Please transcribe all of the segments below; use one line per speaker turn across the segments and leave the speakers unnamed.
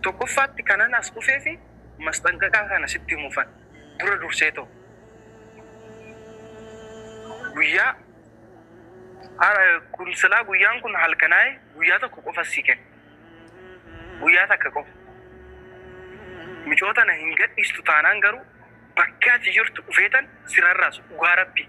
Tokkoffaatti kanan as dhufeefi masxanqaqaa kana sitti himuufan. Dura durseetoo guyyaa har kun silaa guyyaan kun halkanaa'e guyyaa tokko qofas sii kenna. Guyyaa takka qofa. Micoo tana hin gadhiistu taanaan garuu bakka ati jirtu dhufeetan si rarraasu dhugaa rabbii.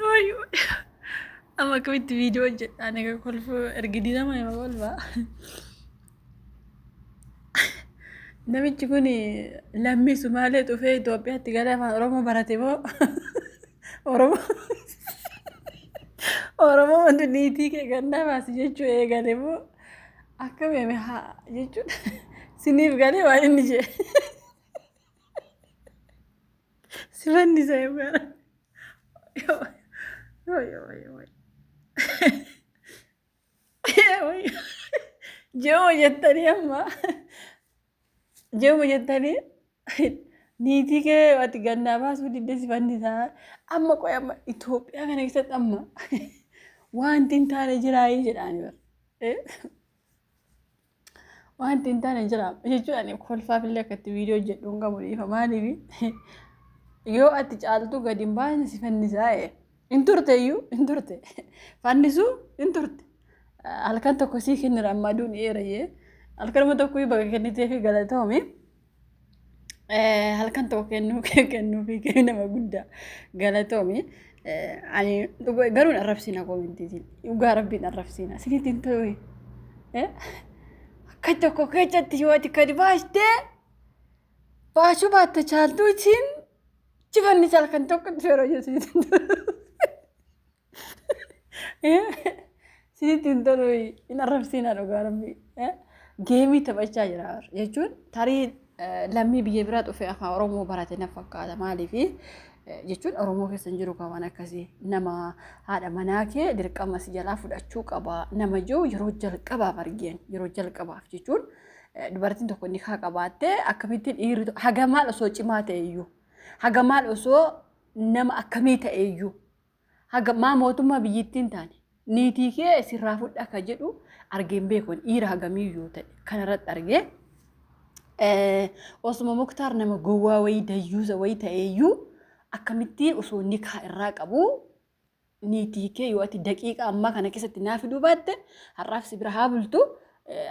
Wayyo. Amma akkamitti viidiyoo hojjedhaa naga kolfu ergidii nama hima kolfaa. Namichi kun lammii Sumaalee dhufee Itoophiyaatti galee afaan Oromoo barate moo Oromoo Oromoo wanti niitii kee gannaa baasi jechuu eegale moo akkamiime haa jechuun siniif galee waan inni jee. Sifanni isa eebbara. Jeema jettanii amma jeema jettanii niitii kee ati gannaa baasuu didde sifanni isaa amma qoy amma Itoophiyaa kana keessatti amma wanti hin taane jiraayii jedhaani bara. Wanti hin taane jira jechuun ani kolfaaf illee akka itti viidiyoo hojjedhu hin qabu dhiifa maaliif yoo ati caaltuu gadi hin baane si fannisaa ee hin turte iyyuu hin turte fannisuu hin turte halkan tokko sii kennira ammaa duun eera jee halkanuma tokko baga kennitee fi galatoomi. Eh, halkan tokko kennuu kee kennuu fi kee nama guddaa galatoomi. Eh, ani dhuga- garuu hin arrabsiina koomintiitiin dhugaa rabbiin arrabsiina isinitti hin ta'u. Eh, akka tokko keessatti yoo ati gadi baastee baasuu baatte chaaltuu isiin jifannis halkan tokkotti yeroo jechuun. Sinitti hin tolu hin arrabsiinaa dhugaa rabbi. Geemii taphachaa jira jechuun tarii lammii biyya biraa dhufee afaan Oromoo barate na fakkaata maaliif jechuun Oromoo keessa hin jiru waan akkasii nama haadha manaa kee dirqama si jalaa fudhachuu qaba nama jiru yeroo jalqabaaf argeen yeroo jalqabaaf jechuun dubartiin tokko ni kaa qabaattee akkamittiin dhiirri haga maal osoo cimaa ta'e iyyuu haga maal osoo nama akkamii ta'e iyyuu Haga maa mootummaa biyyittiin taane niitii kee sirraa fudhaa ka jedhu argeen beeku ani dhiira hagamiyyuu ta'e kanarratti argee osuma muktaar nama gowwaa wayii dayyuusa wayii ta'eeyyuu akkamittiin osoo nikaa irraa qabu niitii kee yoo ati daqiiqa ammaa kana keessatti naa fiduu baatte har'aaf si bira haa bultu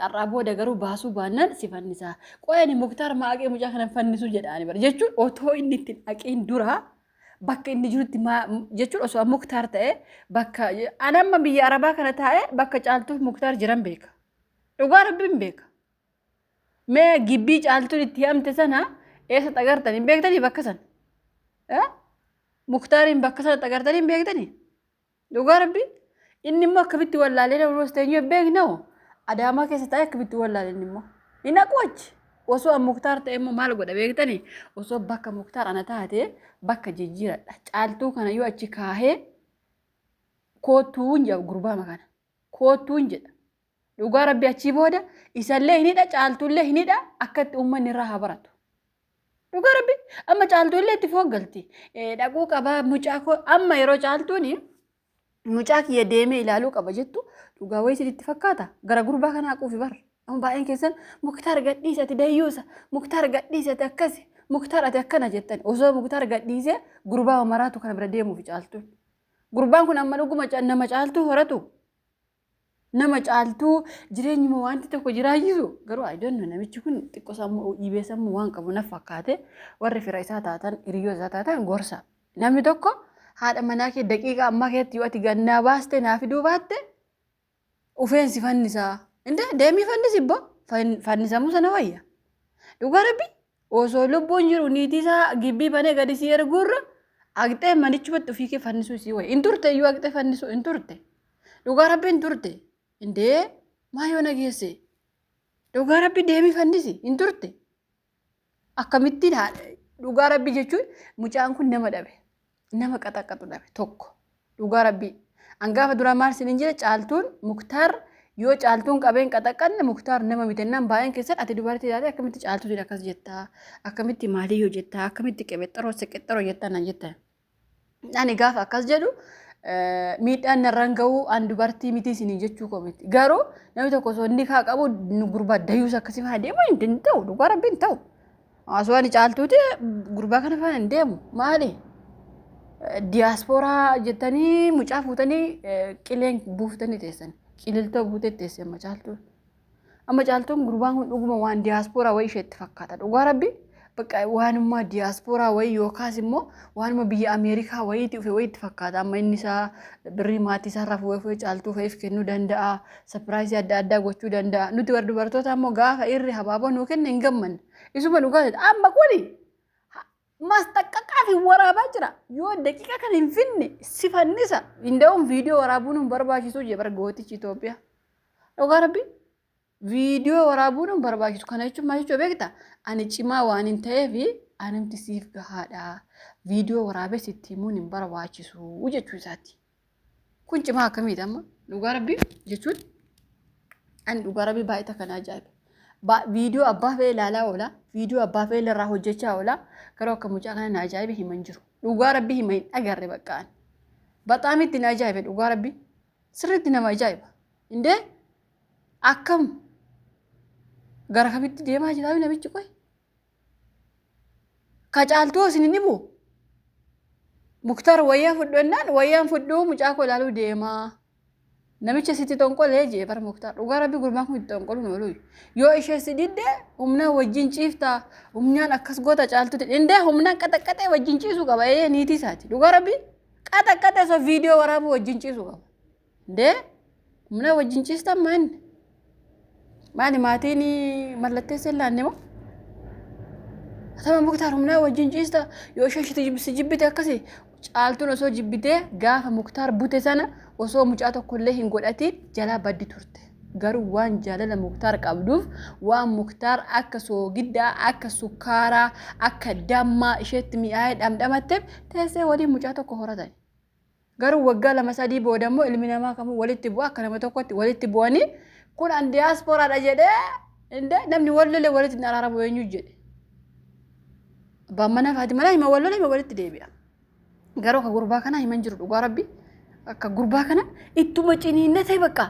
har'aa booda garuu baasuu baannaan si fannisaa qo'ani muktaar maa aqee mucaa kana fannisu jedhaani bara jechuun otoo inni ittiin aqiin duraa bakka inni jirutti maa jechuun osoo an muktaar ta'e bakka an amma biyya arabaa kana taa'e bakka caaltuuf muktaar jiran beeka dhugaa rabbiin beeka mee gibbii caaltuun itti hidhamte sana eessa xagartan hin beektanii bakka sana Eh? muktaariin bakka sana xagartanii hin beektanii Dhugaa rabbi inni immoo akkamitti wallaalee na ulooste eenyu hin beekne hoo adaamaa keessa taa'ee akkamitti wallaale inni immoo hin haqu achi osoo an muktaar ta'e immoo maal godha beektani osoo bakka muktaar ana taate bakka jijjiiradha caaltuu kana yoo achi kaahee koottuu hin jedha gurbaama kana koottuun jedha. Dhugaa rabbi achii booda isallee hin hidha caaltuullee hin hidha akka itti uummanni irraa haa baratu. Dhugaa rabbi amma caaltuullee itti fooggalti. Dhaquu qabaa mucaa koo amma yeroo caaltuuni mucaa kiyya deemee ilaaluu qaba jettu dhugaa wayii isinitti fakkaata gara gurbaa kanaa quufi bar. Amma baay'een keessan muktaar gadhiisi ati dayyuusa muktaar gadhiisi ati akkasi muktaar ati akkana jettan osoo muktaar gadhiisee gurbaa maraatu kana bira deemuufi caaltuun. Gurbaan kun amma dhuguma ca- nama caaltuu horatu. Nama caaltuu jireenyuma wanti tokko jiraachisu. Garuu ayidoonno namichi kun xiqqoo sammuu dhiibee sammuu waan qabu naf fakkaate warri fira isaa taatan hiriyoota isaa taatan gorsa. Namni tokko haadha manaa kee daqiiqaa ammaa keessatti yoo ati gannaa baaste naa fiduu baatte Ufeen si fannisaa. Indee deemii fannisi bbo fannisamuu sana wayya. Dhugaa rabbi osoo lubbuun jiru niitii isaa gibbii banee gadi si erguurra aqxee manichumatti ofii kee fannisuu isii wayya. Hin turte iyyuu aqxee fannisuu hin turte. Dhugaa rabbi hin turte. Indee maa yoo nageesse. Dhugaa rabbi deemii fannisi hin turte. Akkamittiin haa dhugaa rabbii jechuun mucaan kun nama dhabe nama qaxaqqaxu dhabe tokko dhugaa rabbii an gaafa duraa maal sin hin jire caaltuun muktaar yoo caaltuun qabeen qaxaqqanne muktaar nama mitennaan baay'een keessan ati dubartii taate akkamitti caaltuutiin akkas jettaa akkamitti maalii yoo jettaa akkamitti qebexxaroo seqexxaroo jettaa naan jettan Ani gaafa akkas jedhu eh, miidhaan narraan ga'u an dubartii miti isinii jechuu koo miti. Garuu namni tokko osoo inni kaa qabu nu gurbaa dayuus akkasii faana deemuu hin danda'u. Dhugaa rabbi hin ta'u. Osoo ani caaltuuti gurbaa kana faana hin deemu. Maali? Eh, Diyaaspooraa jettanii mucaa fuutanii eh, qileen buuftanii teessan. Qililtoo buutee teessan macaaltuun. Amma caaltuun gurbaan kun dhuguma waan diyaaspooraa wayii isheetti fakkaata. Dhugaa rabbi bakka waanuma diyaaspooraa wayii yookaas immoo waanuma biyya Ameerikaa wayiitti dhufe wayiitti fakkaata. Amma inni isaa birrii maatii isaarraa fuudhee fuudhee caaltuu fa'iif kennuu danda'a. Sapiraayisii adda addaa gochuu danda'a. Nuti warra dubartoota ammoo gaafa irri habaaboo nuu kenne hin gammanne. Isuma dhugaa amma kuni Maasxaqqaqaa fi waraabaa jira. Yoo daqiiqa kan hin finne si fannisa. Inda'uun viidiyoo waraabuun hin barbaachisuu jee bara gootichi Itoophiyaa. Dhugaa rabbi viidiyoo waraabuun hin barbaachisu. Kana jechuun maal jechuu beekta? Ani cimaa waan hin ta'eef anumti siif gahaadha. Viidiyoo waraabee sitti himuun hin barbaachisu jechuu isaati. Kun cimaa akkamiiti amma dhugaa rabbii jechuun ani dhugaa rabbii baay'ee takka na ajaa'ibe. Ba- Viidiyoo abbaa fe'ee ilaalaa oola viidiyoo abbaa fe'ee irraa hojjechaa oola garuu akka mucaa kana na ajaa'ibe hima hin jiru. Dhugaa rabbii hima hin agarre bakka ani. Baxaam itti na ajaa'ibe dhugaa rabbii sirriitti nama ajaa'iba. Indee akkam gara kamitti deemaa jiraa namichi qoy Ka caaltuu isin hin dhibu? Muktaar wayyaa fudhu jennaan wayyaan fudhuu mucaa koo ilaaluu deemaa. Namicha sitti xonqolee jee bar Muktaar dhugaa rabbi gurbaan kun itti xonqoluun oolu. Yoo ishee si didde humnaa wajjin ciifta humnaan akkas goota caaltuuti. Indee humnaan qaxaqqaxee wajjin ciisuu qaba ee niitii isaati. Dhugaa rabbi qaxaqqaxee osoo viidiyoo waraabuu wajjin ciisuu qaba. Dee muna wajjin ciistan maa inni? Maali maatiin mallatteessa hin laanne moo? Atama muktaar humnaa wajjin ciista yoo isheen shiti si jibbite akkasi caaltuun osoo jibbitee gaafa muktaar bute sana osoo mucaa tokkollee hin godhatiin jalaa baddi turte. Garuu waan jaalala muktaar qabduuf waan muktaar akka soogiddaa akka sukkaaraa akka dammaa isheetti mi'aayee dhamdhamatteef teessee waliin mucaa tokko horatan. Garuu waggaa lama sadii booda immoo ilmi namaa kamuu walitti bu'a akka nama tokkotti walitti bu'anii kun an diyaaspooraadha jedhee indee namni wal lole walitti hin araaramu eenyu jedhe. Abbaan manaa fi haati manaa hima wal lole hima walitti deebi'a. Garuu akka gurbaa kanaa himan jiru dhugaa rabbi akka gurbaa kana ittuma ciniinna ta'e bakka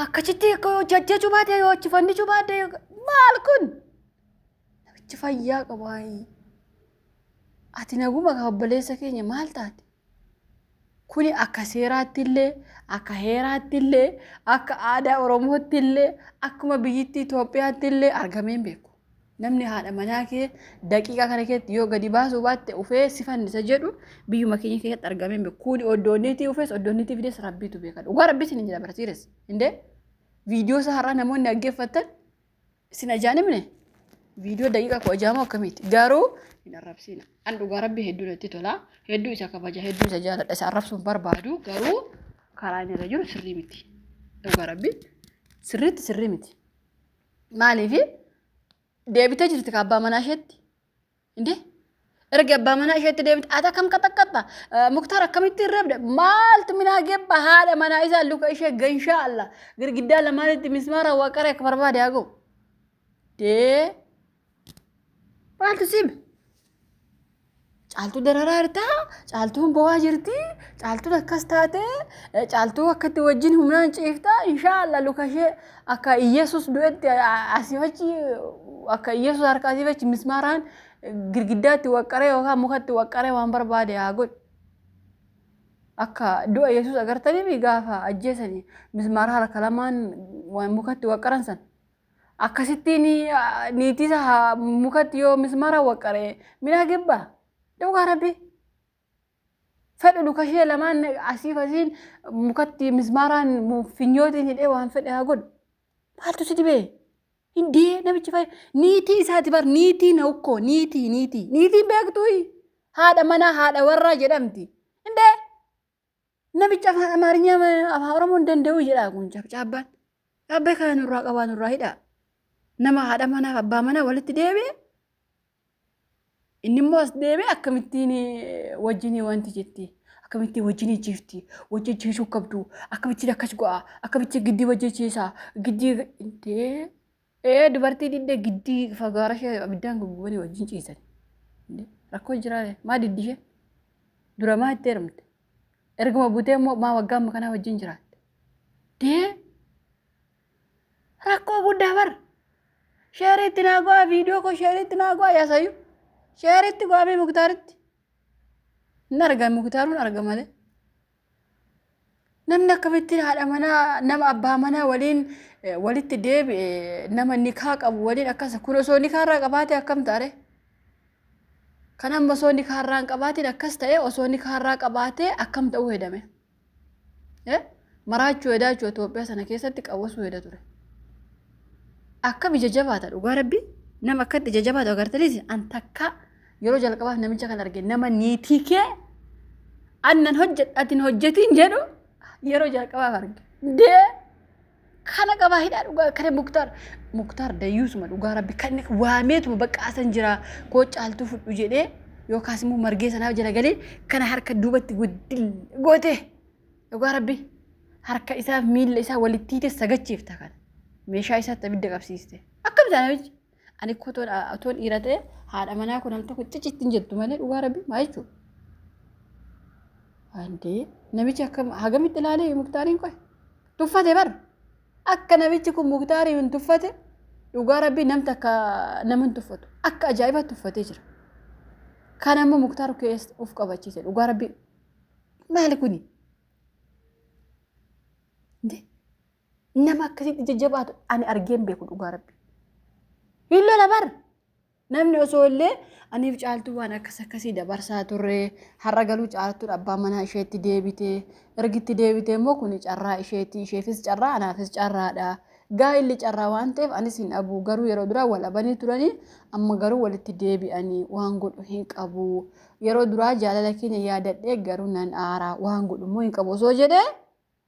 akkasitti akka yoo jajjachuu baadhee yoo achi fannichuu baadhee maal kun namichi fayyaa qabu haayii. Ati naguma kaa obboleessa keenya maal taate? Kuni akka seeraatti illee, akka heeraatti illee, akka aadaa Oromootti illee, akkuma biyyittii Itoophiyaatti illee argamee hin beeku. Namni haadha manaa kee daqiiqaa kana keessatti yoo gadi baasuu baatte ufee si fannisa jedhu biyyuma keenya keessatti argamee hin beeku. Kuni oddoonniitii ufees oddoonniitii fidees rabbiitu beeka. Dhugaa rabbii isin hin jedha barsiires. Indee viidiyoo isaa har'aa namoonni dhaggeeffatan Isin ajaan himne viidiyoo daqiiqaa kudha jaha moo akkamiiti? Garuu hin arrabsiina. An dhugaa rabbi hedduu natti tola. Hedduu isa kabaja, hedduu isa jaaladha. Isa arrabsuun barbaadu garuu karaa inni irra jiru sirrii miti. Dhugaa rabbi sirriitti sirrii miti. Maaliif deebitee jirti ka abbaa manaa isheetti? Indee erga abbaa manaa isheetti deebite ati akkam qaxaqqaxxa muktaar akkamitti hin reebde maaltu minaa gebba haadha manaa isaa luka ishee ganshaa alla girgiddaa lamaanitti mismaara waqara akka barbaade haa ga'u. Dee maaltu siime? Caaltuu dararaa jirtaa, caaltuun bo'aa jirti, caaltuun akkas taatee, caaltuu akkatti wajjin humnaan ciiftaa, inshaa Allah luka ishee Akka Iyyasuus du'etti asiif achi akka Iyyasuus harka asiif achi mismaaraan girgiddaatti waqqaree yookaan mukatti waqqaree waan barbaade haa godhu. Akka du'a Yesuus agartaniif gaafa ajjeesanii mismaara harka lamaan waan mukatti waqqaran san. Akkasittiin niitiisa mukatti yoo mismaara waqqaree midhaa gebbaa dhugaa rabbi. fedhu luka ishee lamaan asiif asiin mukatti mismaaraan mu- finyootiin hidhee waan fedhe haa godhu maaltu si dhibee hindee namichi fay niitii isaati bar niitii na ukkoo niitii niitii niitiin beektuuyi haadha manaa haadha warraa jedhamti hindee Namichi afaan Amaarinyaa ma- afaan Oromoo hin danda'u jedhaa kun cabcaabbaan. Abbee kana nurraa qabaa nurraa hidhaa. Nama haadha manaaf abbaa manaa walitti deebi'e inni immoo as deebi'e akkamittiin eh, wajjinii wanti jetti. Akkamittiin wajjinii jifti. Wajjin jiisuu qabdu. Akkamittiin akkas go'a. Akkamittiin giddii wajjin jiisaa. Giddii intee Ee dubartii diddee giddii fagaara ishee abiddaan guggubanii wajjin ciisan. Rakkoo jiraa maa diddi ishee? Dura maa itti heerumte? Erguma butee immoo maa waggaa amma kanaa wajjin jiraatte? Dee rakkoo guddaa bar. Sheeriitti naa go'aa viidiyoo koo sheeriitti naa go'aa yaasayyuu. Sheeriitti go'aa mee muktaaritti. Hin argan muktaarun arga malee. Namni akkamittiin haadha manaa nama abbaa manaa waliin eh, walitti deebi'e eh, nama nikaa qabu waliin akkasa kun osoo nikaa irraa qabaate akkam taare? Kan amma osoo nikaa irraa hin qabaatiin akkas ta'e osoo nikaa irraa qabaate akkam ta'uu hedame? Eh? Maraachuu hedaa jechuudha Itoophiyaa sana keessatti qawwasuu heda ture. Akkam ija jabaata dhugaa rabbi nama akkatti ija jabaatu agartaniis an takkaa Yeroo jalqabaaf namicha kan arge nama niitii kee annan hojjedha atin hojjetiin jedhu yeroo jalqabaaf arge. Dee kana qabaa hidhaa dhugaa kana muktaar muktaar dayyuusuma dhugaa rabbi kan waameetuma bakka asan jira koo caaltuu fudhu jedhee yookaas immoo margee sanaa jala galee kana harka duubatti guddil goote dhugaa rabbi harka isaaf miilla isaa walitti hiite sagachiifta kana meeshaa isaatti abidda qabsiiste akkam taana Ani akka otoon otoon dhiira ta'e haadha manaa kun namni tokko cici ittiin jettu malee dhugaa rabbi maa jechuudha. Andee namichi akka hagamitti ilaalee muktaariin qoy tuffate bar akka namichi kun muktaariin hin tuffate dhugaa rabbi namni akka nama hin tuffatu akka ajaa'iba tuffatee jira. Kan ammoo muktaar keessa of qabachiise dhugaa rabbi maali kuni? Andee Nama akkasitti jajjabaatu ani argee hin beeku dhugaa rabbi. Hin lola bar. Namni osoo illee aniif caaltuu waan akkas akkasii dabarsaa turre har'a galuu caaltuudha abbaa manaa isheetti deebite ergitti deebite immoo kuni carraa isheetti isheefis carraa anaafis carraadha. Gaa'illi carraa waan ta'eef anis hin dhabu garuu yeroo duraa wal abanii turanii amma garuu walitti deebi'anii waan godhu hin qabu. Yeroo duraa jaalala keenya yaadadhee garuu nan aara waan godhu immoo hin qabu osoo jedhee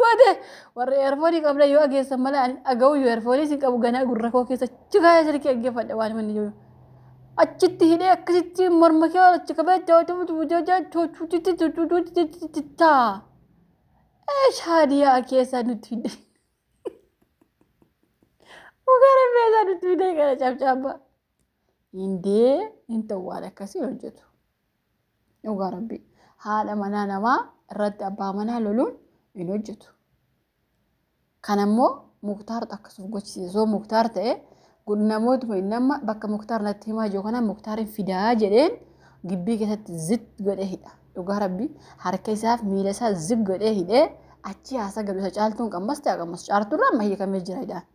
Goote warri eerfoonii qabda yoo dhageessan malee ani dhaga'uu yoo eerfooniis hin qabu ganaa gurra koo keessa achi kaa'ee sirkii dhaggeeffadha waan manni jiru. Achitti hidhee akkasitti morma kee achi qabee jaawatu bujaajaa chuuchuuchitti chuuchuuchitti taa. Eesh haadiyaa keessaa nutti fidde. Ugaara keessaa nutti fidde gara cabcaabaa. Hindee hin ta'u waan akkasii hojjetu. Dhugaa rabbii haadha manaa namaa irratti abbaa manaa loluun hin hojjetu. Kana immoo muktaartu akkasuuf gochisiisa. Osoo muktaar ta'e namootuma inni amma bakka muktaar natti himaa jiru kana muktaariin fidaa jedheen gibbii keessatti zit godhee hidha. Dhugaa rabbii harka isaaf miila isaa zig godhee hidhee achi haasa galu isa caaltuun qammas ta'a qammas caartuurraa amma hiikamee jira hidhaan.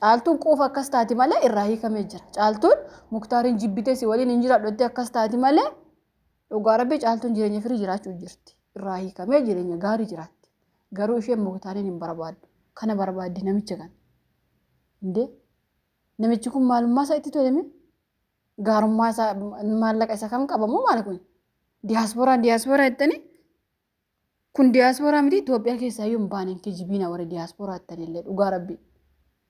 Caaltuun quufa akkas taati malee irraa hiikamee jira. Caaltuun muktaariin jibbitee si waliin hin jiraadhu jettee akkas taati malee dhugaa rabbii caaltuun jireenya firii jiraachuu jirti. Irraa hiikamee jireenya gaarii jiraatti. Garuu isheen muktaariin hin barbaaddu. Kana barbaaddi namicha kana. Indee namichi kun maalummaa isaa itti toleme gaarummaa isaa maallaqa isa kam qabamoo maal kun diyaaspooraan diyaaspoora jettanii Kun diyaaspooraa miti Itoophiyaa keessaa iyyuu hin baane hin kijibiina warri diyaaspooraa ittan illee dhugaa rabbi.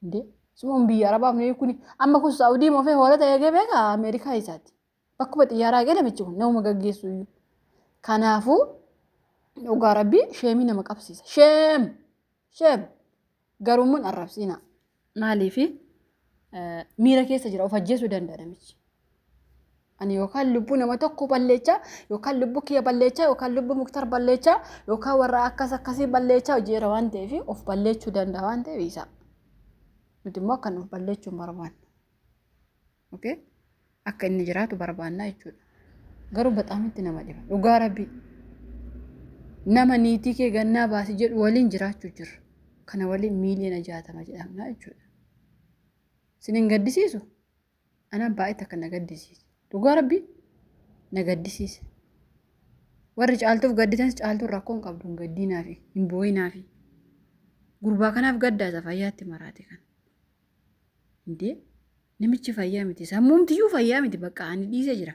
Indee suun biyya arabaaf nuyi kuni amma kun saawudii moofee hoolota eegee beeka Ameerikaa isaati. Bakkuma xiyyaaraa eegee namichi kun namuma gaggeessu iyyuu. Kanaafuu dhugaa rabbi sheemii nama qabsiisa. Sheem! Sheem! Garuu immoo hin arrabsiina. Maaliif miira keessa jira of ajjeesuu danda'a namichi. Ani yookaan lubbuu nama tokko balleechaa yookaan lubbuu kiyya balleechaa yookaan lubbuu muktar balleechaa yookaan warra akkas akkasii balleechaa hojiirra waan ta'eef of balleechuu danda'a waan ta'eef isaa. Nuti immoo akka nuuf balleechuu hin barbaanne. okay? akka inni jiraatu barbaannaa jechuudha garuu baxaamitti nama dhiba dhugaa rabbii nama niitii kee gannaa baasi jedhu waliin jiraachuu jirra kana waliin miiliyoona jaatama jedhamnaa jechuudha sin hin gaddisiisu anaan baay'ee takka na gaddisiise dhugaa rabbii na gaddisiise warri caaltuuf gadditanis caaltuun rakkoo hin qabdu hin gaddiinaafi hin boo'inaafi gurbaa kanaaf gaddaasa fayyaatti maraate kan Indee namichi fayyaa miti sammuumtiyyuu fayyaa miti bakka ani dhiise jira.